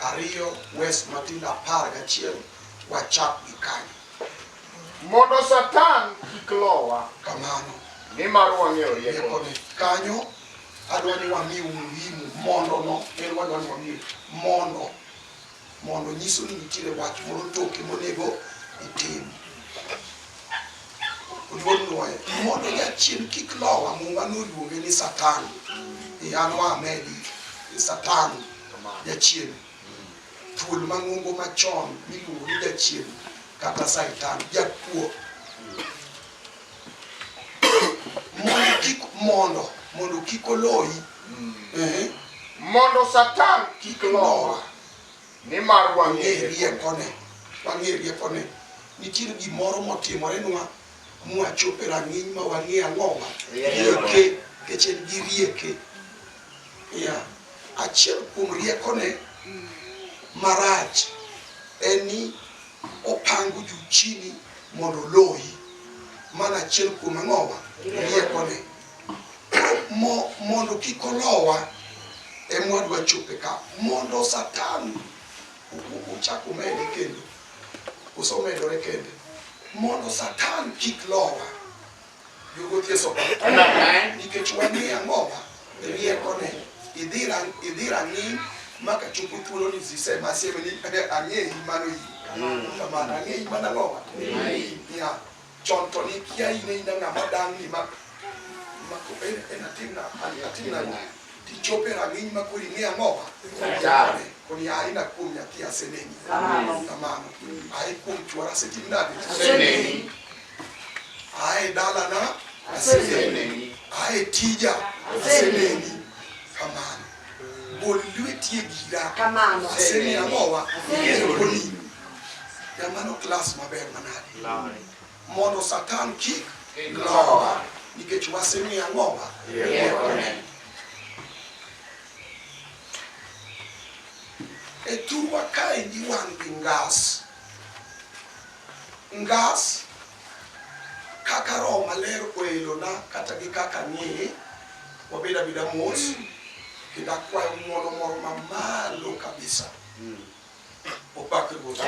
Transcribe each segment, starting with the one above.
Ariyo, Wes matindo apar gachiel wachak gi kanyo. Mondo Satan kik lowa. Kamano. Nimar wang'eyo riekone. Kanyo adwa ni wami umuhimu mondo no en wadwa ni wami mondo mondo nyiso ni nitiere wach moro toke monego itim. Oluor nwoye mondo jachien kik lowa muma noluonge ni Satan. Iyanwa amedi Satan. jachien thuol mang'ongo machon miluongo ni jachien kata saitan jakuo mondo kik mondo mondo kik oloyi eh, mondo satan kik lowa nimar wang'e wang'erie riekone wang'e riekone nitiere gimoro motimorenwa mwachope rang'iny ma wang'e ang'owa Rieko. rieke kech en gi rieke Yeah. Achiel kuom riekone marach en ni opango juu chini mondo oloyi. Mano achiel kuom ang'owa riekone. Mo, mondo kik olowa ema wadwa chope ka. Mondo Satan ochak omede kendo, kose omedore kende. Mondo Satan kik lowa. nikech wang'e ang'owa riekone idhi rang'iny maka chopo thuolo ni zisema aseme ni ang'eyi mano yi kamano ang'eyi mana ang'owa ya chon to nikia in aina ng'ama dang'ni ma en atimna atimna tichope rang'iny ma kori ng'e ang'owa koni aina kuom nyathi aseneni kamano ae kuom chwara asetimnade Ae dalana aseneni, ae tija aseneni. Kamano gol lweti e gira, asemi ang'owa eroni. Jamano klas maber manade mondo Satan kik lowa nikech wasemi ang'owa eroni. E thurwa kae giwang' gi ngas Ngas, kaka Roho Maler oelona kata gi kaka ang'eye, wabed abeda mos kendo akwayo ng'wono moro mamalo kabisa. Opak Ruoth.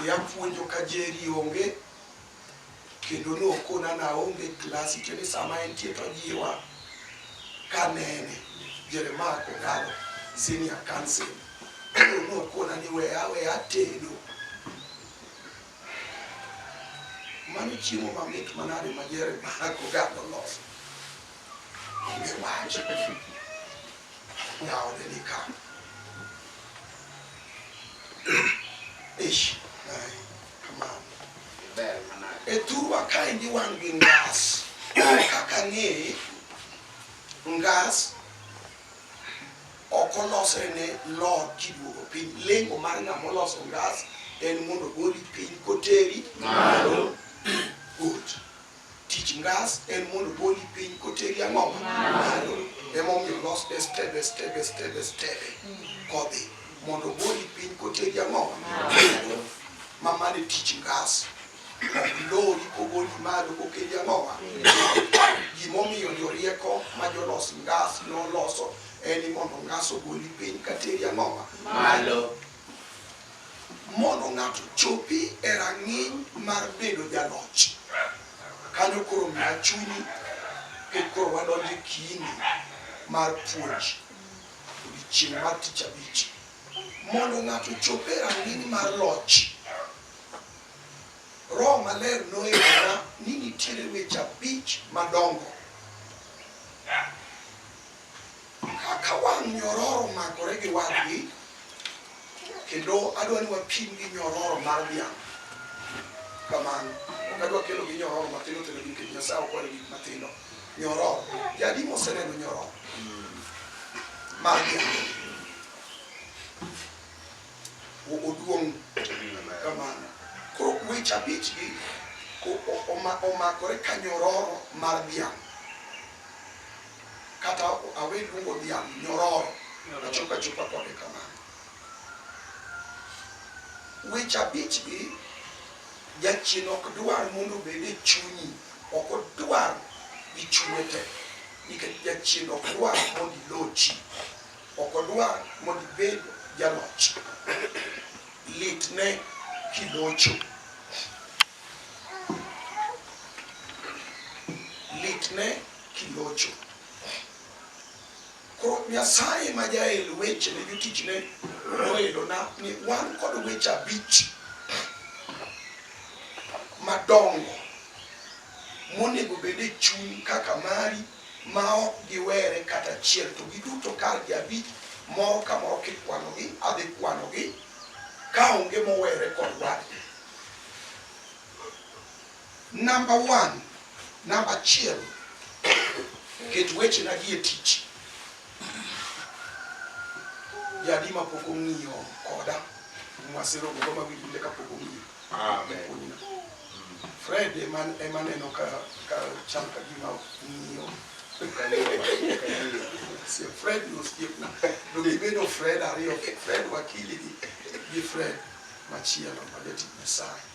Yapuonjo ka Jerry onge kendo nokona na onge klasi tiende sama entie to jiwa kanene Jeremiah Kogalo senior council nokona ni weya weya tedo Mano chiemo mamit manade ma Jeremiah Kogalo oloso? Onge wach. Nyaode ni ka. Ish, ai, kamano. Ber manade. E thurwa kaendi wan gi ngas. Kaka ang'eye, ngas Ok olosre ne Lord kiduogo piny. Lengo mar ng'ama oloso ngas en mondo ogoli piny koteri malo. Good. Tich ngas en mondo ogoli piny koteri ang'o? Malo. Emomiyo olos ne stebe stebe stebe stebe kodhi mondo ogoli piny koteri ang'o? Malo. Ma mano e tich ngas. Ok lori kogoli malo kokeli ang'o? Gimomiyo jorieko ma jolos ngas noloso en ni mondo ngas ogoli piny ka teri ang'owa malo mondo ng'ato chopi e rang'iny mar bedo jaloch kanyo koro miya chunyi e koro wadonje kini mar puonj odiochieng' mar tich abich mondo ng'ato chop e rang'iny mar loch roho maler noyera ni nitiere weche abich madongo Ka wang' nyororo makore gi wadgi, kendo adwa ni wapim gi nyororo mar dhiang' kamano, ok adwa kelo gi nyororo matindo tindo nikech Nyasaye ok ohero gik matindo. Nyororo, jadi moseneno nyororo mar dhiang' o- oduong' kamano. Koro weche abichgi o- o- oma- omakore ka nyororo mar dhiang'. kata awe luongo dhiang' nyororo achopo achopa kode kamano. Weche abich gi jachien ok dwar mondo obed e chunyi, ok odwar gi chunye te nikech jachien ok dwar mondo ilochi, ok odwar mondo ibed jaloch. Litne kilocho. Litne Kilocho. Koro Nyasaye ma jael weche ne jotichne noelona ni wan kod weche abich madongo monego bed e chuny kaka mari ma ok giwere kata achiel to giduto kar gi abich moro ka moro kikwanogi adhi kwanogi ka onge mowere kod wadgi Number one, namba achiel, ket wechena gi e tich. Jadi ma pok ong'iyo koda, mwasiro gogo ma winjinde ka pok ong'iyo. Amen. Fred ema ema neno ka ka chal ka gima ng'iyo. Se Fred no skiepna. Do gibedo Fred ariyo, Fred wakili gi gi Fred machielo ma jatich Nyasaye.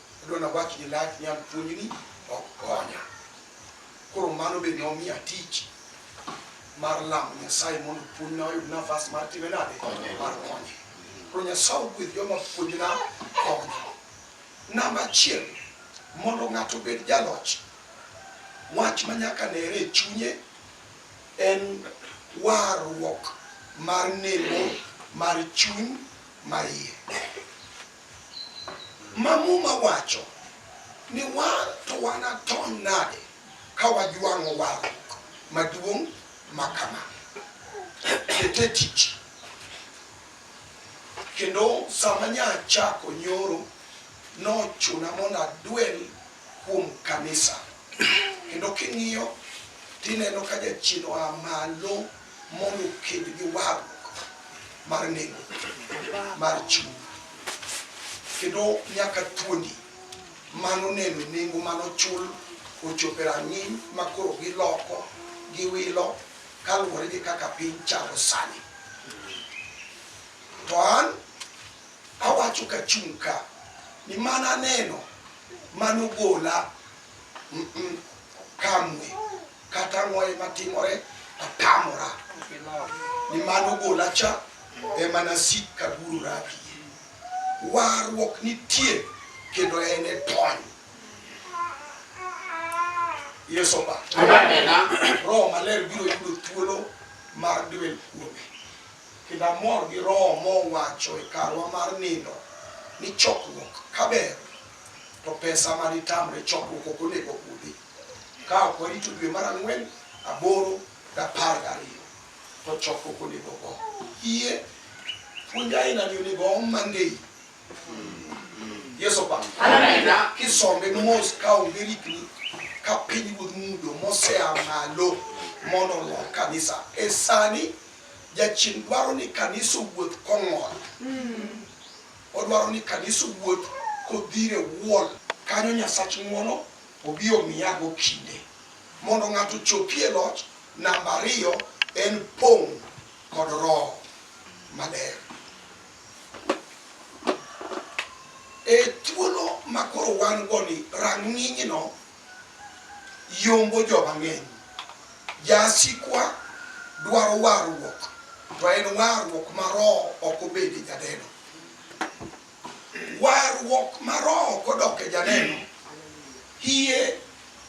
Adwa nawach gi lach ni an puonjni ok konya. Koro mano be ne omiya tich mar lamo Nyasaye mondo puonjna oyud nafas mar time nade mar konye. Koro Nyasaye ogwedh joma puonjna konyo. Namba achiel, mondo ng'ato obed jaloch, wach ma nyaka nere e chunye en warruok mar nemo mar chuny maiye. ma Muma wacho ni wan to wanatony nade ka wajwang'o warruok maduong' ma kama? Ket e tich. Kendo sama nyachako nyoro, nochuna mondo adwel kuom kanisa. Kendo king'iyo tineno ka jachien oa malo mondo oked gi warruok mar nengo mar chuny kendo nyaka thuondi mano neno nengo mano chul ochope rang'iny ma koro giloko giwilo kaluwore gi kaka piny chalo sani to an awacho ka chung' ka ni mana neno mano gola kamwe Kata ang'o ema timore, atamora ni mano gola cha ema nasik ka guru raki. Warruok nitie kendo en e tony. Yesu ba. Roho maler biro yudo thuolo mar dwel kuome. Kendo amor gi roho mowacho e karwa mar nindo ni chokruok kaber to pesa ma nitamre chokruok ok onego kudhi. Ka ok warito dwe mar ang'wen, aboro, gi apar gariyo, to chokruok onego ogo. Yie puonj ainani onego oom Monday. Yesu opam. Kisombe mos ka onge rikni ka piny ruodh mudho mosea malo mondo olo kanisa. E sani jachien dwaro ni kanisa owuoth kong'ol. Odwaro ni kanisa owuoth kodhire wuol. Kanyo Nyasach ng'wono Obi omiyago kinde mondo ng'ato ochopie e loch. Namba ariyo en pong' kod Roho Maler. E thuolo ma koro wan go ni rang'inyno yombo jo mang'eny. Jasikwa dwaro warruok, to en warruok ma Roho ok obede jadeno. Warruok ma roho kodok e janeno, hie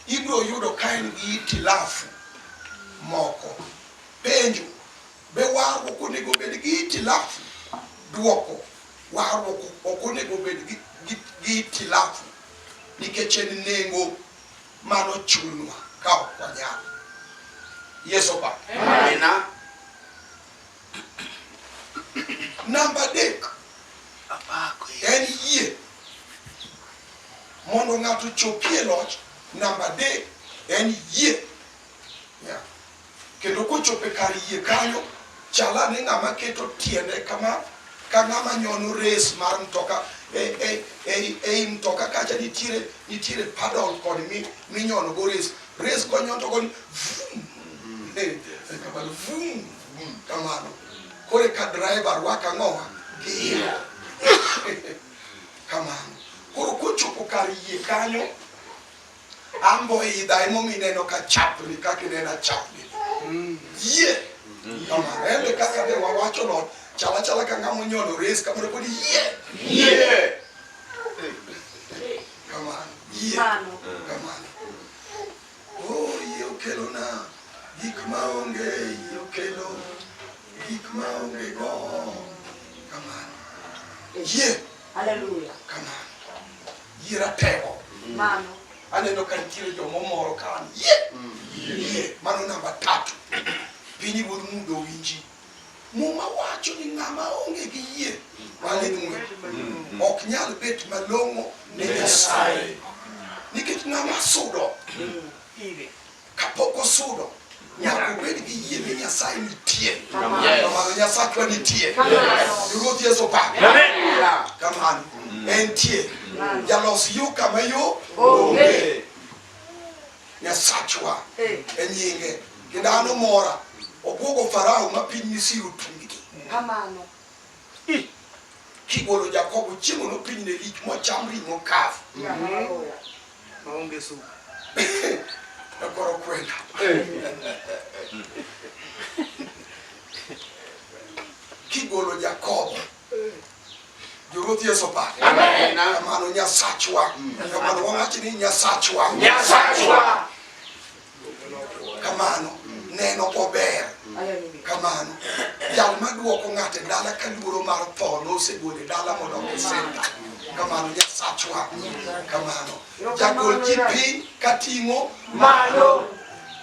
ibiro yudo ka en gi itilafu moko. Penjo, be warruok onego obed gi itilafu? Dwoko, warruok ok onego obed gi, gi, gi itilafu nikech en nengo mano chunwa ka ok wanyal. Yesu opak. Amina. Namba adek en yie mondo ng'ato chopie loch. Namba adek en yie kendo kochope kar yie kanyo chala ni ng'ama keto tiende kama ka ng'ama nyono res mar mtoka ei e, e, e, mtoka kacha nitiere nitiere padol kod minyono go res res konyoto koni vum kamano vum mm, kamano kore ka driver rwaka ng'owa giyo kamano koro kochopo kar yie kanyo ambo idha emomi neno ka chapni kaka ineno chapni mm. yie kamano ende kaka de wawacho no chala chala ka ng'ama onyolo res kamano pod yie yie kamano yie kamano Yie. Hallelujah. Kama. Yie ratego. Mano. Aneno ka nitiere joma omoro ka an. Yie. Yie. Mano namba tatu. Piny wuod mudo winji. Muma wacho ni ng'ama onge gi yie mane ng'we ok nyal bet malong'o ne Nyasaye nikech ng'ama sudo kapok osudo nyaka obed gi yie ni Nyasaye nitie kamano Nyasachwa nitie Ruoth Yesu pa kamano entie jalos yo kama yo onge Nyasachwa e nyinge kendo an omora obwogo Farao ma piny Misri otunggi. Kamano. Kigolo Jakobo chiemo no piny ne lich mocham ring'o kafu. Maonge supu. Ekoro kwenda. Kigolo Jakobo. Joroth Yesu opake. Amen. Kamano Nyasachwa. Kamano wawachi ni Nyasachwa. Nyasachwa. Kamano neno ober. Kamano jal maduoko ng'ate dala ka luoro mar tho nosegole dala mondo osenda. Kamano Nyasachwa. Kamano. Jagol ji piny ka ting'o malo.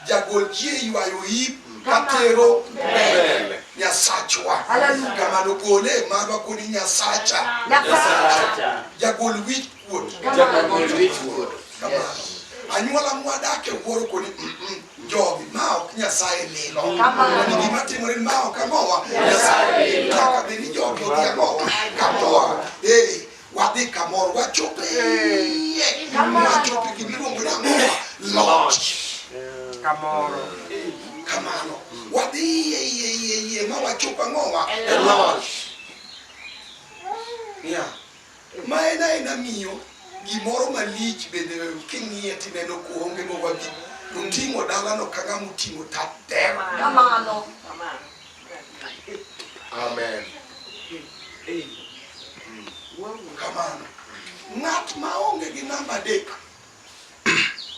Jagol ji e ywayo yip ka tero mbele. Nyasachwa. Kamano gole marwa kodi Nyasacha. Jagol wich kuot. Kamano. Anyuola mwadak e wuoro kodi mm, mm, jogi ma ok Nyasaye lilo. Ni gima timore ni ma ok amowa. Nyasaye lilo. Kaka bed ni jogi odhi amowa. Kamowa. Eh. wadhi kamoro wachope wachope gimiluongo ni ang'owa loch kamoro kamano wadhi iye iye iye iye ma wachop ang'owa e loch yeah. ma en aena miyo gimoro malich bende king'iye tineno kuonge mowagi oting'o dalano kaka moting'o tatema kamano Amen. Kamano. Ng'at ma onge gi namba adek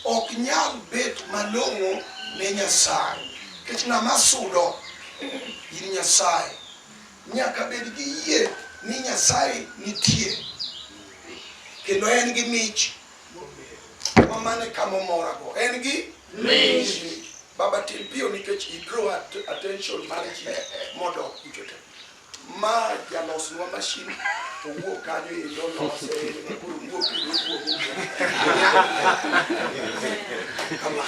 ok nyal bet malong'o ne Nyasaye. Nikech ng'ama sudo in Nyasaye nyaka bed gi yie ni Nyasaye nitie kendo en gi mich ma mane kama omorago en gi Minji. Baba tim piyo nikech i draw at attention mar ji mondo kuchote. Ma jalosnwa mashin to wuok kanyo e lolose e koro wuok e wuok kama.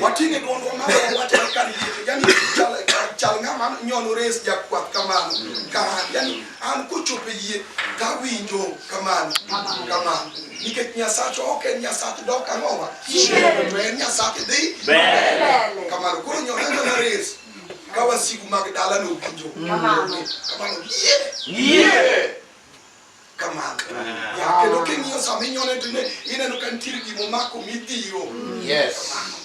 Wating'e dwondwa ma wate kar yie yani chal chal ng'ama nyono res jakwath kamano. Ka yani an kochopo e yie to awinjo kamano kamano nikech nyasacho ok en nyasach dok ang'owa to en nyasach dhi kamano koro nyoranga mares ka wasigu mag dala nowinjo kamano yie kamano kendo king'iyo sama inyone to ineno ka nitiere gimomako midhiro kamano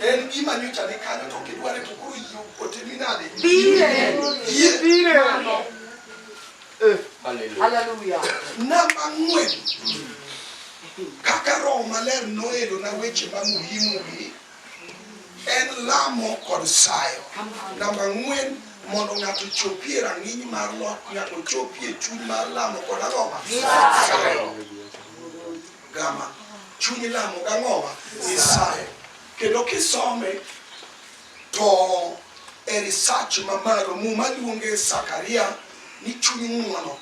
En gima nyocha ni kanyo to kidware to koro yie otemi nade? Dire. Yie. Dire. Mano. Eh, hallelujah. Hallelujah. Namba ng'wen. Kaka roho maler noelo na weche ma muhimu gi en lamo kod sayo. Namba ng'wen mondo ng'ato chopie rang'iny mar lot nyaka ochopie chuny mar lamo kod ang'oma sayo. gama chuny lamo gang'owa isaye kendo kisome to e research mamalo muma luonge sakaria ni chuny ng'uono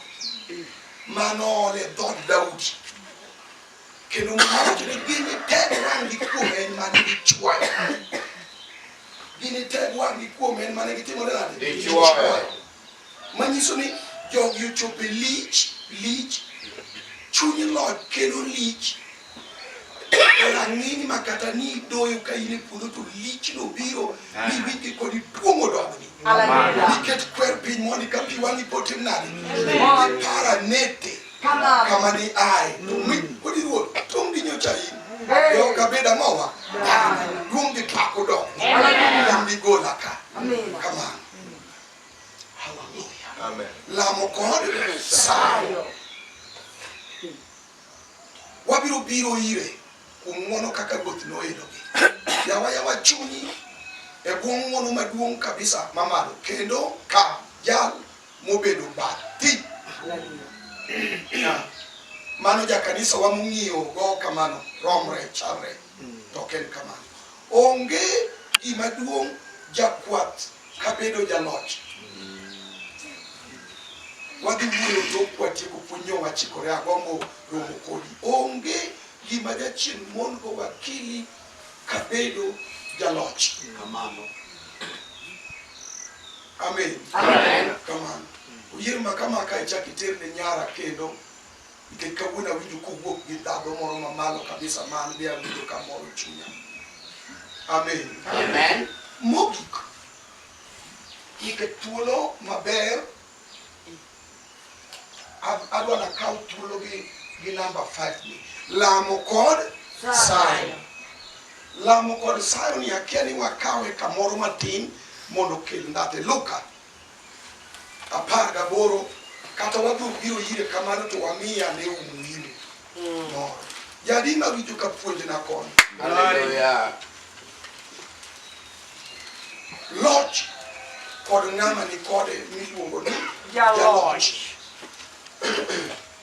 mano ole dhod daudi kendo mawacho ni gini ted wang'gi kuom en mane gichwayo gini ted wang'gi kuom en mane gitimore nade gichwayo manyiso ni jogi ochope lich lich chuny lod kelo lich rang'iny ma kata ni idoyo ka in e puodho to lich no biro ni wigi kod ituomo dogni nikech kwer piny mondi ka pi wang'i potim nade ipara nete kama ni aye to mi kod iruo tong' gi nyocha in Yo kabeda mawa. Kumbi pako do. Kumbi gola ka. Come on. Hallelujah. Lamo kod sayo. Wabiro biro ire kuom ng'wono kaka Ruoth noedogi. Yawa yawa chunyi e bwo ng'wono maduong' kabisa mamalo kendo ka jal mobedo bathi. Mano jakanisa wa mong'iyo go kamano romre chalre to ok en kamano. Onge gima duong' jakwath kabedo jaloch wadhi wuoyo tok kwatieko puonj yo wachikore agombo romo kodi onge gima jachien mon go wakili kabedo jaloch kamano amen kamano oyier makama ka ichak iterne nyara kendo Nikech kawuono awinjo kowuok gi dhadho moro mamalo kabisa ma an be awinjo ka moro chunya. Amen. Amen. Mogik, ike thuolo maber, adwa nakaw thuolo gi gi namba 5 ni lamo kod sayo. Lamo kod sayo ni akia ni wakawe kamoro matin mondo okel ndhadho. Luka apar gaboro kata wadhok biro ire kamano to wamiye ane umuhimu moro jadi mawinjo ka puonjna koni Hallelujah. loch kod ng'ama ni kode miluongo ni Jaloch. jaloch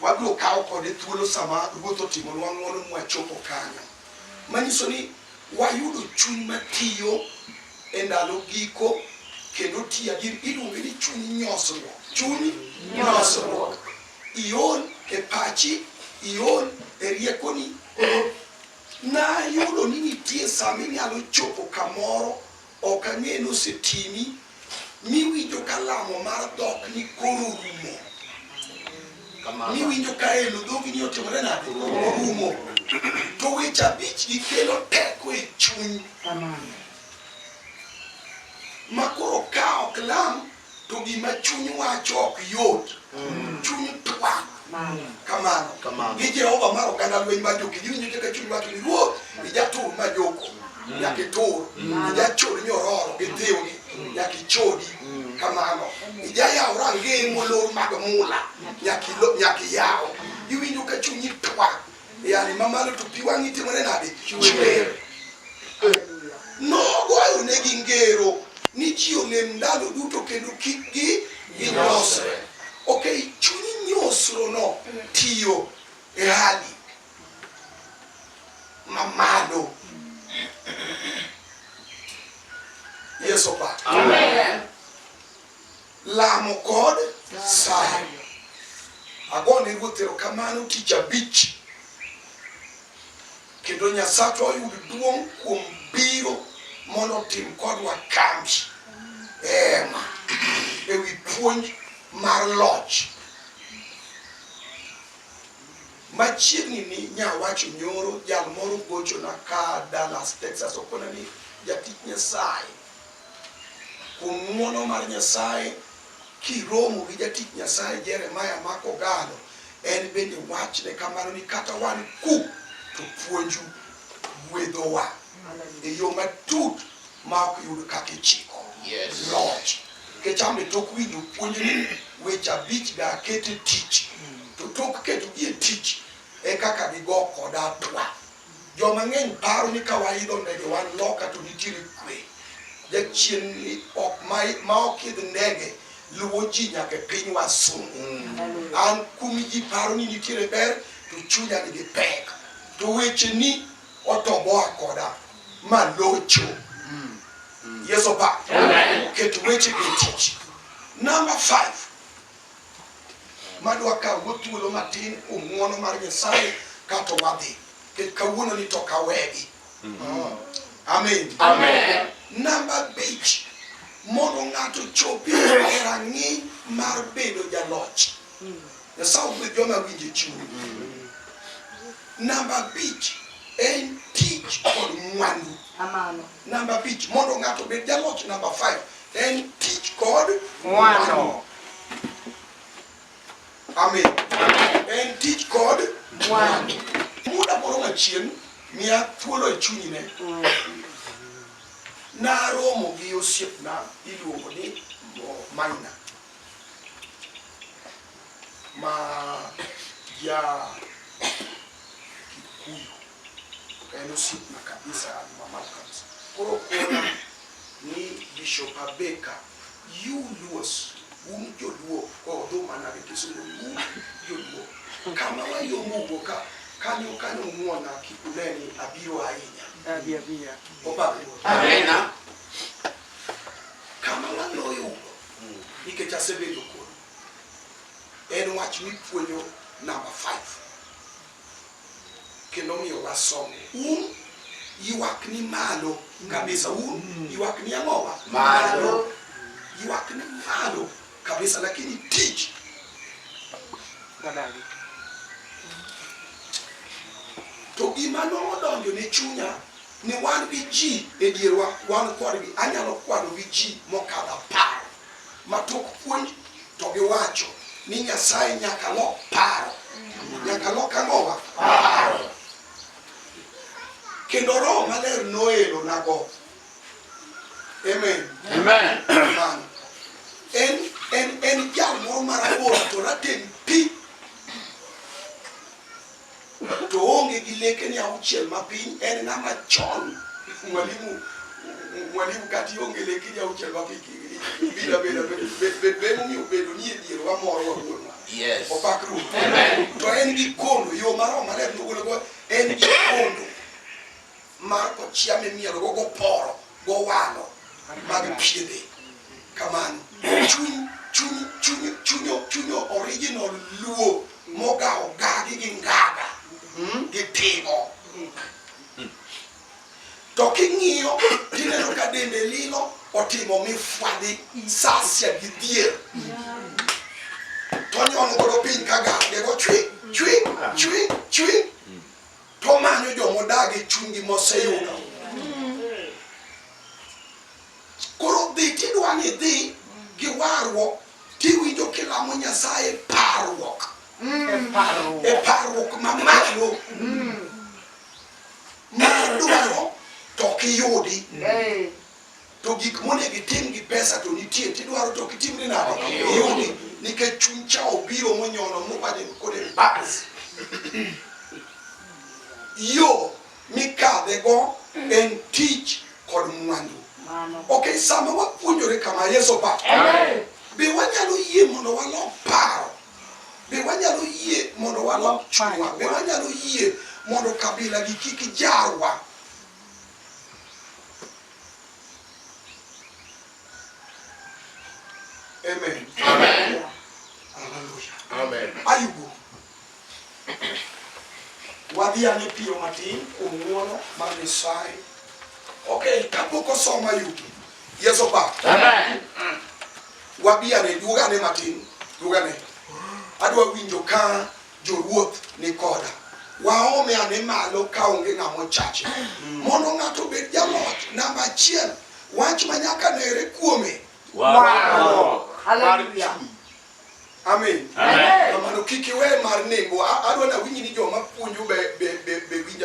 Wabiro kawo kode thuolo sama Ruoth otimonwa ng'wono mwachopo kanyo, manyiso ni wayudo chuny matiyo e ndalo giko kendo tiya gir iluonge ni chuny nyosruok. Chuny nyosruok. Iol e pachi, iol e riekoni. Nayudo ni nitie sama inyalo chopo kamoro Ok ang'e ni osetimi miwinjo ka lamo mar dhok ni koro orumo, miwinjo ka elo dhogi ni otimore nade, orumo. To weche abich gi kelo teko e chuny ma koro ka ok lam to gima chuny wacho ok yot mm. chuny twak kamano gi jehova mar oganda lweny mar joki giwinjo kaka chuny wacho ni ruoth ijatur ma joko mm. nyaka itur mm. ijachod nyororo gi thiwni nyaka ichodi kamano ijayaw rangeye molor mag mula nyaka iyaw iwinjo ka chunyi twak Yani mamalo to pi wang'i timore nade? Chwer. Nogwayo ne gi ngero ni ji onem ndalo duto kendo kik gi ginyosre. Ok, chuny nyosrono tiyo e hali mamalo. Yesu opaki. Amen. Lamo kod sayo. Agone Ruoth erokamano tich abich kendo Nyasachwa oyud duong' kuom biro mondo otim kodwa kambi ema e wi puonj mar loch. Machiegni ni nyawacho nyoro jal moro gochona ka Dallas, Texas okona ni jatich Nyasaye Kuom ng'wono mar Nyasaye, kiromo gi jatich Nyasaye Jeremiah ma kogallo, en bende wachne kamano ni kata wan ku to puonju gwedhowa e yo matut ma ok yud kaka ichiko. Yes. Loch. Kecham e tok winjo puonj ni weche abich da ket e tich, to tok ketogi e tich e kaka digo koda atwa. Jo mang'eny paro ni ka waidho ndege wan loka to nitiere kwe. Jachien ni ok ma, ma ok idh ndege luwo ji nyaka e piny wasungu. An kumi ji paro ni nitiere ber to chunya nigi pek. To weche ni otoboa koda ma locho. Yesu pa. Ket weche e tich. Number 5. madwa kawo thuolo matin kuom ng'uono mar Nyasaye kato wadhi kech kawuono ni to kawegi mm. amen amen namba bich mondo ng'ato chopi e rang'iny mar bedo jaloch mm. Nyasaye ogwedh joma winje chuny mm. namba bich en tich kod mwandu namba bich mondo ng'ato obed jaloch namba 5 En tich kod mwano. Amen. En tich kod mwano. Muda moro machien miya thuolo e chunyi ne. Naromo gi osiepna iluongo ni Maina. Ma ja En osiepna kabisa an mamalo kabisa. Koro kona ni Bishop Abeka, you Luos, un joluo odho mana gi kisungu un joluo. Kama wayombo wuo ka kanyo kanyo muona kikuneni abiro ahinya. Abi abiya. Obalo. Amina. Kama waloyo ugo nikech asebedo kuno. En wach mipuonjo namba 5. kendo omiyo wasom. Un ywak ni malo kabisa, un ywak ni ang'owa malo, ywak ni malo kabisa, lakini tich wadagi. To gima nodonjo ne chunya ni wan gi ji e dierwa, wan kodgi, anyalo kwano gi ji mokadho apar ma tok puonj to giwacho ni Nyasaye nyaka lok paro. Nyaka lok ang'owa? Paro. Kendo Roho Maler noelo nago. Amen. Amen. Amen. En, en, en jal moro marabora to rateng' pi. to oonge gi lekene auchiel mapiny en ng'ama chon mwalimu mwalimu kati onge lekene auchiel mapiny bila bela bemo mi obedo ni e dier wa moro wa wuon wa yes opak ru to en gi kondo yo maro maler nogolo go en gi kondo mar kochia mimierogo goporo gowalo mag piende kamano chuny chuny chuny chuny chuny original luo mogawo gagi gi ngaga gi timo to king'iyo tineno ka dende lilo otimo mifwadhi sasia gi dhier to nyono godo piny ka gage go chwi chwi chwi chwi To manyo joma odagi chunygi moseyudo. Koro dhi tidwa ni dhi gi warruok tiwinjo kilamo Nyasaye parruok. E parruok mamalo. Mar dwaro to ok iyudi. to gik monego itim gi pesa to nitie tidwaro to kitim ni nade iyudi nikech chuny cha obiro monyono mobade kode bas yo mikadhe go en tich kod mwandu ok sama wapuonjore kama yeso pa be wanyalo yie mondo walok paro be wanyalo yie mondo walok chunywa be wanyalo yie mondo kabila gi kik jarwa Amen. Amen. Hallelujah. Amen. Ayubu. Wadhi ane piyo matin kuom ng'wono mar Nyasaye. Okay, kapok osoma Ayubu. Yes or bad? Amen. Wabi ane duog ane matin, duog ane. Adwa winjo ka Jowuoth ni koda. Waome ane malo ka onge ng'ama ochache. Mondo ng'ato obed jaloch, namba achiel, wach ma nyaka nere kuome. Warruok. Haleluya. Amen. Amen. Kamano kik iwe mar nengo. A- Adwa nawinji ni joma puonjo be, be, be, be winja